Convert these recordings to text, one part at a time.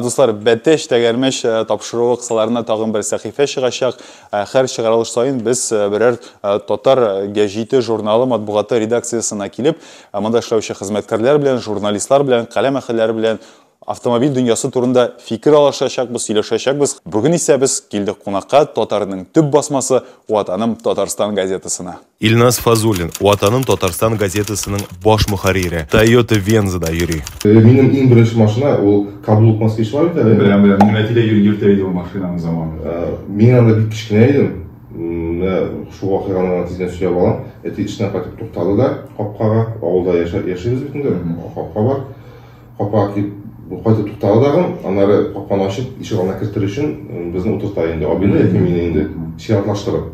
Дуслар, Бәтеш, Тәгәрмәч э, тапшыруы кысаларында тагын бер сәхифә чыгачак. Э, һәр чыгарылыш саен без э, берәр татар гәҗите журналы матбугаты редакциясына килеп, монда эшләүче хезмәткәрләр белән, журналистлар белән, каләм әһелләре белән автомобиль дөньясы турында фикер алышачакбыз, сөйләшәчәкбез. Бүген исә без килдек кунакка татарның төп басмасы Ватаным Татарстан газетасына. Илназ Фазуллин, Ватаным Татарстан газетасының баш мөхәррире, Тойота Вензада йөри. Минем иң беренче машина ул каблук москвичлар бит әле. Беләм, беләм. Минем әти дә йөртә иде ул машинаны заманында. Мин анда бик кечкенә идем. Менә шул вакыйганы гына тиздән сөйләп алам. Әти эштән кайтып туктады да капкага, авылда яшибез бит инде, капка бар. Капкага килеп кайтып туктады тагын, аннары капканы ачып, ишек алдына кертер өчен безне утырта инде, абыйны яки мине инде, чиратлаштырып.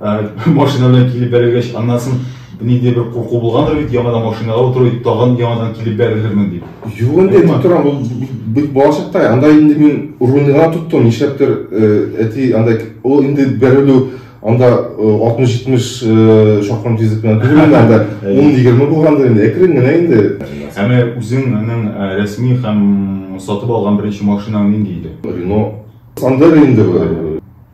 машина белән килеп бәрелгәч аннан соң ниндидер бер курку булгандыр бит яңадан машинаға утыру тагын яңадан килеп бәрелермен дип юк инде әйтеп торам ул бит балачакта анда инде мин рульга тоттым нишләптер әти андай ул инде бәрелү анда алтмыш җитмеш шакрым тизлек белән түгел инде анда ун егерме булгандыр инде әкрен генә инде ә менә үзеңнең рәсми һәм сатып алган беренче машинаң нинди иде рено сандер инде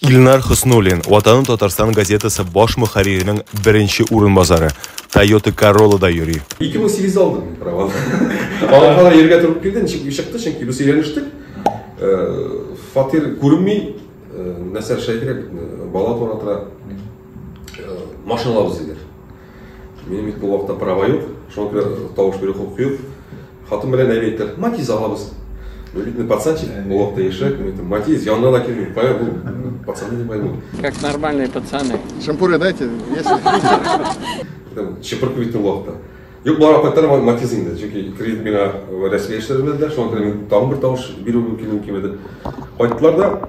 Илнар Хөснуллин, Ватаным Татарстан газетасы баш мөхәрриренең беренче урынбасары, Тойота Королла да йөри. 2008 дә алдым мин праваны. Алай гына йөрергә туры килде, ничек ни чыкты, чөнки без өйләнештек. Фатир күренми, нәрсә эшләргә кирәк бит, бала туа тора. Машиналар үзегә. Минем бит бу вакытта права юк, шуңа күрә тавыш бирү хокукы юк. Хатын белән әйбәт әйтер, матиз алабыз. Ну, видно, пацанчик, бу вакытта яшьрәк, мин әйтәм, матиз, янына да килмим, понял, бу, пацаны не поймут. Как нормальные пацаны. Шампуры дайте, если... Чепыркы бит бу вакытта. Юк, бар апаттар матиз инде, чөнки кредит миңа рәсми яшьләр белән дә, шуңа күрә мин тагын бер тавыш бирү мөмкин мөмкин иде. Кайттылар да,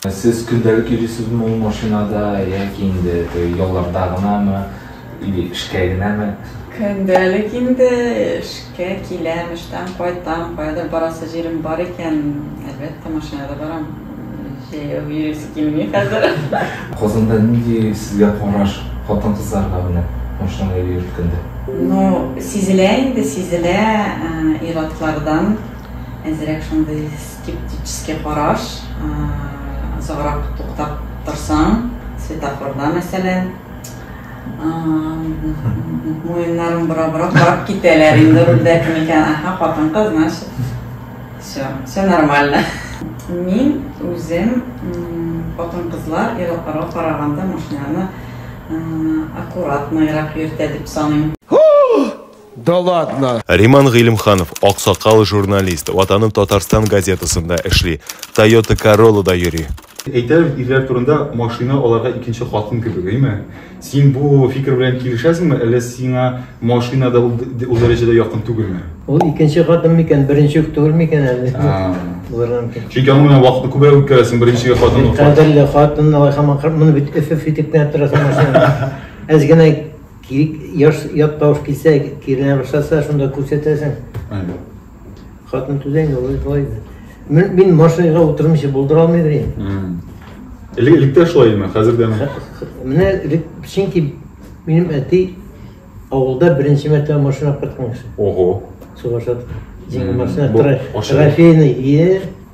Сез көндәлек йөрисезме ул машинада, яки инде теге ялларда гынамы, или эшкә генәме? Көндәлек инде, эшкә киләм, эштән кайтам, каядыр барасы җирем бар икән, әлбәттә, машинада барам. Җәяү йөрисе килми хәзер. Казанда нинди сезгә караш хатын-кызларга менә машинада йөрткәндә? Ну, сизелә инде, сизелә, ир-атлардан әзрәк шундый. Скептический караш, озаграк туктап торсаң, светофорда мәсәлән, муеннарын бора-бора карап китәләр инде рульдә кем икән, аха, хатын-кыз, значит, все, все нормально. Мин үзем хатын-кызлар ир-атларга караганда машинаны аккуратныйрак йөртә дип саныйм. Да ладно! Риман Гыйлемханов, аксакал журналист, Ватаным Татарстан газетасында эшли, Тойота Короллада йөри. Әйтәләр ирләр турында, машина аларга икенче хатын кебек, әйме? Син бу фикер белән килешәсеңме, әллә сиңа машина да ул ул дәрәҗәдә якын түгелме? Ул икенче хатын микән, беренче үк түгел микән әле? Булырга мөмкин. Чөнки аның белән вакытны күбрәк үткәрәсең, беренче хатын ук. Кадерле хатын, алай һаман моны бит өф-өф итеп кенә торасың машинада. Әз генә Кирик яш ят тавыш килсә, кирелә башласа, шунда күрсәтәсең. Хатын түзә инде, ул шулай инде. Мин, мин машинага утырмыйча булдыра алмыйдыр инде. Элек, элек тә шулай идеме, хәзер дә? Менә элек, чөнки минем әти авылда беренче мәртәбә машина апарткан кеше. Ого. Сугышта. Җиңел машина, трофейный. Е,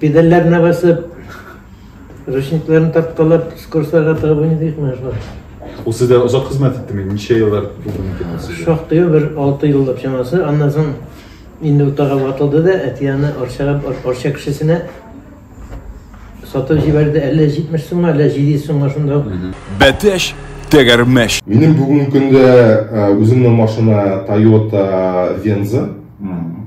Педальләренә басып, ручникларын тарткалап, скоростьларга тыгып уйныйдык менә шулай. Ул сездә озак хезмәт иттеме? Ничә еллар булды микән ул сездә? Шактый бер алты еллап чамасы. Аннан соң инде утага ватылды да, әти аны Арчага, Ар- Арча кешесенә сатып җибәрде. Әллә 70 сумга, әллә 700 сумга шунда ук. Бәтәш, тәгәрмәш. Минем бүгенге көндә э, үземнең машина Toyota Venza. Мгм.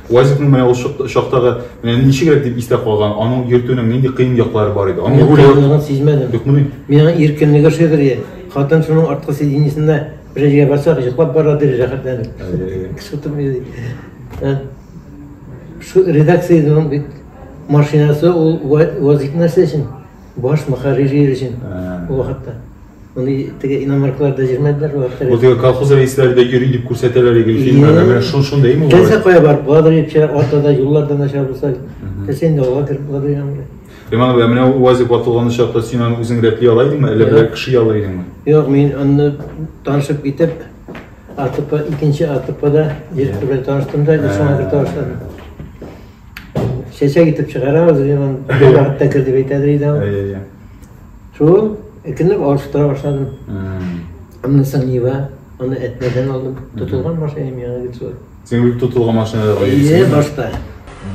УАЗикның менә ул чактагы менә ничегрәк дип истә калган, аның йөртүнең нинди кыен яклары бар иде? Аның руле юк. сизмәдем. Юкмыни? Мин аны иркенлеге ошыйдыр ди. Хатын шуның арткы сиденьесендә бер җиргә барсак, йоклап бара ди рәхәтләнеп. Кеше утырып йөри. Редакциянең бит машинасы ул УАЗик нәрсә өчен? Баш мөхәррире өчен ул вакытта. Моны теге иномарклар да җирмәделәр ул вакытта. Бу теге колхоз рәисләре дә йөри дип күрсәтәләр иде фильмнарда. Менә шул шундый ме? Телсә кая барып буладыр ичә, арта да юллар да начар булса. Телсә инде алга кереп буладыр янга. Иман абый, менә УАЗик ватылган чакта син аны үзең рәтли ала идеңме, әллә бер кеше яла идеңме? Юк, мин аны танышып китеп, АТП, икенче АТПда җир белән таныштым да, шуңа да таныштым. Чәчәк итеп чыгарабыз, яман вакытта кер дип әйтәдер иде ул. Әйе. Шул икенләп алыштыра башладым. Аннан соң Нива, аны әтмәдән алдым. Тотылган машинам яңа гит шулай. Син үз тотылган машиналарга Әйе, башта.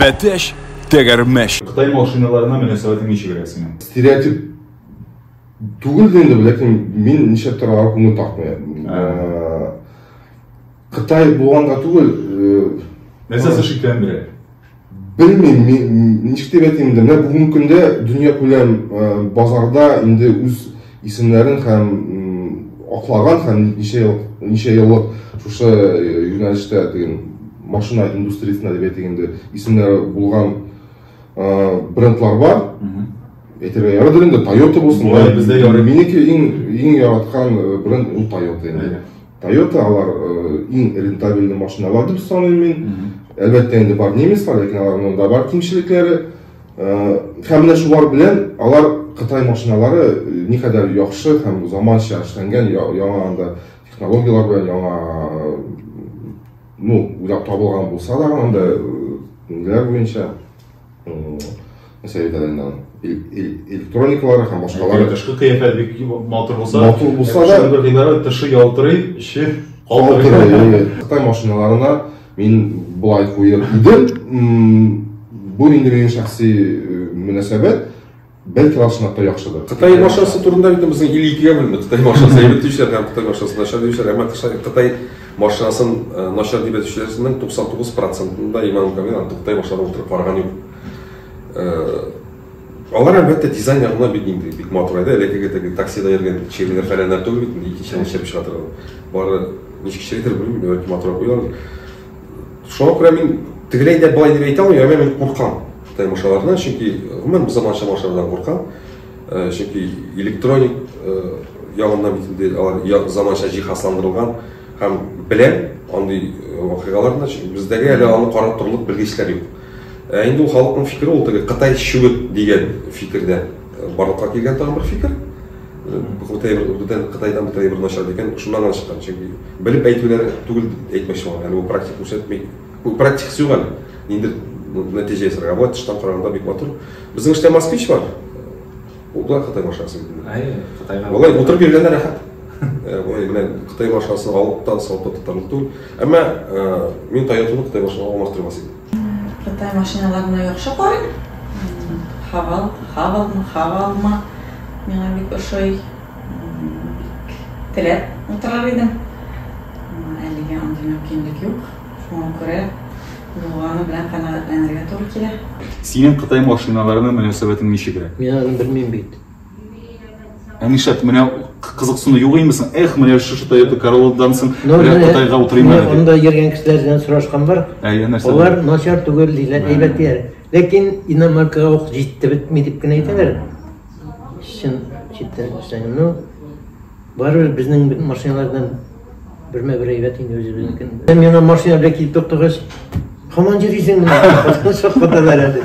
Бәтәш, тәгәрмәш. Кытай машиналарына мөнәсәбәтең ничегрәк синең? Стереотип түгел дә инде, ләкин мин нишләптер аларга күңел тартмыйм. Кытай булганга түгел. Нәрсә сез шикләндерә? Белмим, ничек дип әйтим инде, менә бүгенге көндә дөнья күләм базарда инде үз исемнәрен һәм аклаган һәм ничә ел ничә еллык шушы юнәлештә диген машина индустриясендә дип әйтик инде исемнәре булган брендлар бар. Әйтергә ярадыр инде Toyota булсын. Бездә ярый. Минеке иң иң яраткан бренд ул Toyota инде. Toyota алар иң рентабельный машиналар дип саныйм мин. Әлбәттә инде бар немецлар, ләкин аларның да бар кимчелекләре. Һәм менә шулар белән алар Кытай машиналары никадәр яхшы һәм заманча эшләнгән, яңа анда технологияләр белән яңа ну, уйлап табылган булса да, анда ниләр буенча мәсәлән әйтәләр инде электроникалары һәм башкалары тышкы кыяфәт бик матур булса матур булса да бер гыйбарә тышы ялтырый эче калтырый кытай машиналарына мин былай куер идем бу инде минем шәхси мөнәсәбәт Бәлки ул чынлап та яхшыдыр. Кытай машинасы турында бит безнең ил икегә бүленде. Кытай машинасы әйбәт диючеләр һәм Кытай машинасы начар диючеләр. Әмма Кытай машинасын э, начар дип әйтүчеләрнең 99 процентында Иман Камил артык Кытай машиналарын утырып караган юк. Э, алар әлбәттә дизайн ягына бик инде бик матур иде. Элеккеге теге таксида йөргән чирләр фәләннәр түгел бит инде икенче чәп чыгатырга. Бары ничек чирләр белмим, бәлки матур куялар. шуңа күрә мин тегеләй дә былай дип әйтә алмыйм әмма мин куркам таймашалардан чөнки гомумән бу заманча машиналардан куркам э, чөнки электроник э, ягыннан бит инде алар заманча җиһазландырылган һәм беләм андый э, вакыйгаларны бездәге әле аны карап торырлык белгечләр юк ә инде ул халыкның фикере ул теге кытай чүгет дигән фикердә барлыкка килгән тагын бер фикер Кытай бер урдыдан, Кытайдан бу тәйбер начар дигән, шуннан гына чыккан. Чөнки белеп әйтүләр түгел дип әйтмәкче булам. Әле ул практик күрсәтми. Ул практикасы юк әле. Инде нәтиҗә ясарга. Вот тыштан караганда бик матур. Безнең эштә москвич бар. Ул да Кытай машинасы бит. Әйе, Кытайга. Болай утырып йөргәндә рәхәт. Э, болай белән Кытай машинасын алып та сатып та тотарлык түгел. Әмма э, мин Тойотаны Кытай машинасын алмаштырмас идем. Кытай машиналарына яхшы карыйм. Хавал, хавалмы, хавалмы. Миңа бик ошый. Бик теләп утырыр идем. Әлегә андый мөмкинлек юк. Шуңа күрә булганы белән канәгатьләнергә туры килә. Синең Кытай машиналарына мөнәсәбәтең ничегрәк? Мин аны белмим бит. Ә нишләп менә кызыксыну юк имесең? Эх, менә шушы Toyota Corolla-дан соң менә Кытайга утырыйм әле. Анда йөргән кешеләр белән сорашкан бар. Алар начар түгел диләр, әйбәт диләр. Ләкин иномаркага ук җитте бетми дип кенә әйтәләр. Чын читтән күрсәң, ну, барыбер безнең машиналар белән бермә-бер әйбәт инде үзебезнекен. Һәм яңа машина белән килеп туктагач, һаман йөрисең менә. Хаталар әле.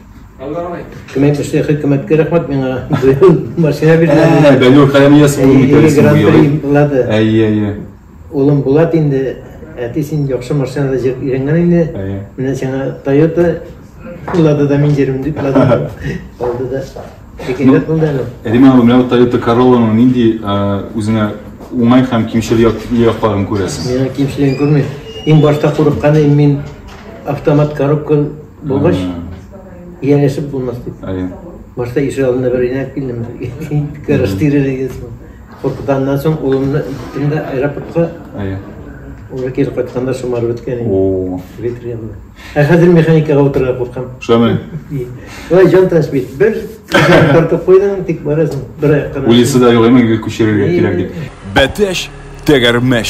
Кемәт эшле хөкүмәткә рәхмәт миңа машина бирде. Бәлүр Хәләмияс улы митәлисен буялый. Әйе, әйе. Улым Булат инде, әти син яхшы машинада җөреп өйрәнгән инде. Менә сиңа Toyota Лада да мин җөрим дип Лада алды да. Шикәйләп булды әле. Риман улы, менә Toyota Corolla-ның нинди үзеңә уңай һәм кимчел якларын күрәсең? Миңа кимчелеген күрмим. Иң башта курыкканым мин автомат коробка Булгач, ияләшеп булмас дип. Башта ишек алдында бер инәк килдем. Караш тирелеген соң. Куркуданнан соң улымны иттем дә аэропортка. Уже кире кайтканда шомар беткән инде. О. Ветренный. Ә хәзер механикага утырырга куркам. Шулай. Ой, җан таш бит. Бер тартып куйдың, тик барасың. Бер аяк кына. Улисы да юк, әмма күчерергә кирәк дип. Бәтәш, тәгәрмәш.